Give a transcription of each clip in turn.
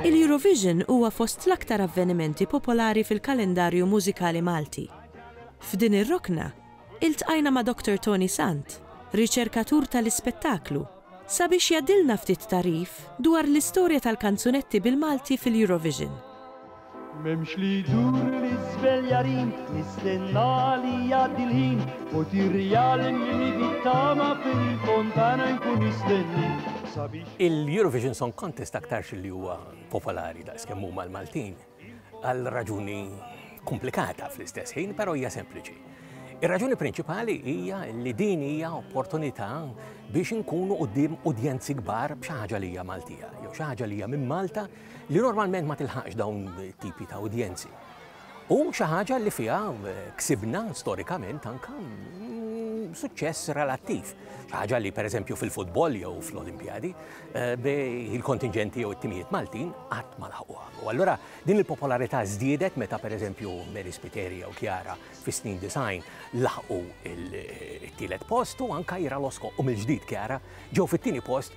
Il-Eurovision huwa fost l-aktar avvenimenti popolari fil-kalendarju mużikali Malti. F'din ir-rokna, iltqajna ma' Doctor Tony Sant, riċerkatur tal-ispettaklu, sabiex jgħaddilna ftit tagħrif dwar l-istorja tal-kanzunetti bil-Malti fil-Eurovision. M'hemmx li jdur l-iżvel jarin, nistenna li jgħaddi l-ħin, u tirrijalni li bit-tama fil-fontana nkun nistenni. Il-Eurovision Song Contest aktarx li huwa popolari daqs kemm huma l-Maltin għal raġuni komplikata fl-istess ħin, però hija sempliċi. Ir-raġuni prinċipali hija li din hija opportunità biex inkunu qudiem udjenzi kbar b'xi ħaġa li hija Maltija, jew xi ħaġa li hija minn Malta li normalment ma tilħaqx dawn tipi ta' udjenzi. u xi ħaġa li fiha ksibna storikament anke suċċess relattiv. Xi ħaġa li pereżempju fil-futbol jew fl-Olimpjadi eh, il-kontingenti jew it-timijiet Maltin qatt ma laħquha. U allura din il-popolarità żdiedet meta pereżempju Mary Spiteri jew Kjara fis-snin design laħqu il-tielet post u anke Ira Losko u mill-ġdid Kjara ġew fit-tieni post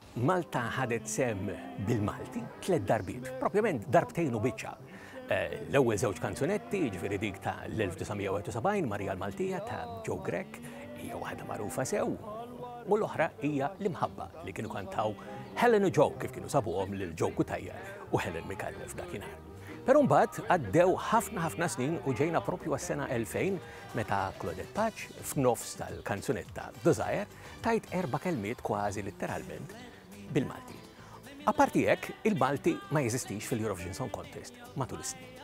Malta ħadet sehem bil-Malti tliet darbiet, propjament darbtejn u biċċa. Eh, l-ewwel żewġ kanzunetti, jiġifieri dik ta' l-1971 Marija l-Maltija ta' Joe Grech, hija waħda magħrufa sew, u l-oħra hija l-imħabba li kienu kantaw Helen u Joe kif kienu sabuhom lil Joe Kutajja u Helen Mikallef dakinhar. Però mbagħad għaddew ħafna ħafna snin u ġejna propju għas-sena 2000 meta Claudette Paċ f'nofs tal-kanzunetta Desire Tgħid erba' kelmiet kważi litteralment bil-Malti. Apparti hekk, il-Malti ma jeżistix fil-Eurovision Song Contest matul is-snin.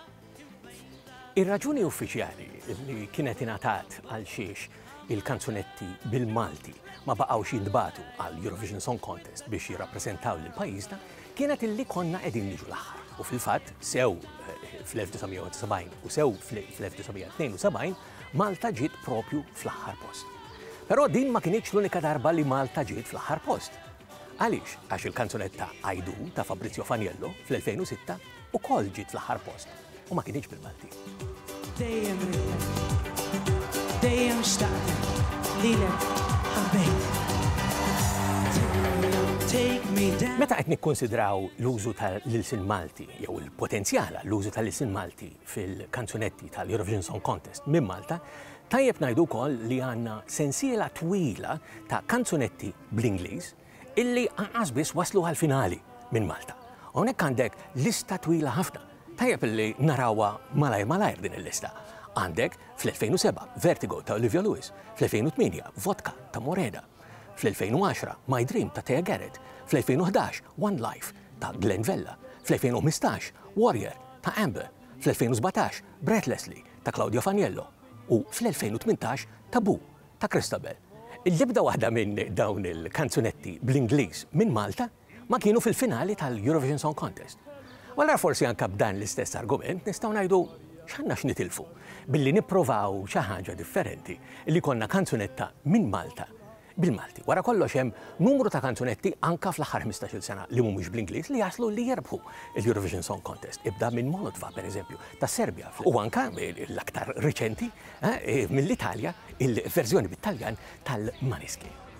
Ir-raġuni uffiċjali li kienet ingħatat għal xiex il-kanzunetti bil-Malti ma baqgħux jintbatu għal Eurovision Song Contest biex jirrappreżentaw lil pajjiżna kienet illi konna qegħdin niġu l-aħħar. U fil-fatt sew eh, fl-1970 u sew fl-1972 Malta ġiet proprju fl-aħħar post. Però din ma kinitx l-unika darba li Malta ġiet fl-aħħar post. Għaliex? Għax il-kanzunetta Għidu ta' Fabrizio Faniello fl-2006 ukoll ġiet fl-aħħar post u ma kinitx bil-Maltin. Dejjem ridtek, dejjem xtaqtek, lilek ħabbejt. Meta qed nikkunsidraw l-użu tal-ilsien Malti jew il-potenzjal għall-użu tal-ilsien Malti fil-kanzunetti tal-Eurovision Song Contest minn Malta, tajjeb ngħidu wkoll li għandna sensiela twila ta' kanzunetti bl-Ingliż illi anqas biss waslu għall-finali minn Malta. Hawnhekk għandek lista twila ħafna. Tajjeb illi narawha malajr malajr din il-lista. Għandek fl-2007 Vertigo ta' Olivia Lewis, fl-2008 Vodka ta' Morena, Fl-2010, My Dream ta' Thea Garrett, fl-2011, One Life ta' Glen Vella, fl-2015, Warrior ta' Amber, fl-2017, Breathlessly ta' Claudio Faniello u fl-2018, Taboo ta' Christabel. L-ebda waħda minn dawn il-kanzunetti bl-Ingliż minn Malta. ma kienu fil-finali tal-Eurovision Song Contest. U allura forsi anke b'dan l-istess argument nistgħu ngħidu x'għandna x'nitilfu billi nipprovaw xi ħaġa differenti li jkollna kanzunetta minn Malta bil-Malti. Wara kollox hemm numru ta' kanzunetti anke fl-aħħar ħmistax-il sena li mhumiex bl-Ingliż li jaslu li jirbħu l-Eurovision Song Contest. Ibda minn Molotva, pereżempju, tas-Serbja u anke l-aktar riċenti eh, mill-Italja il-verżjoni bit-Taljan tal-Maneskin.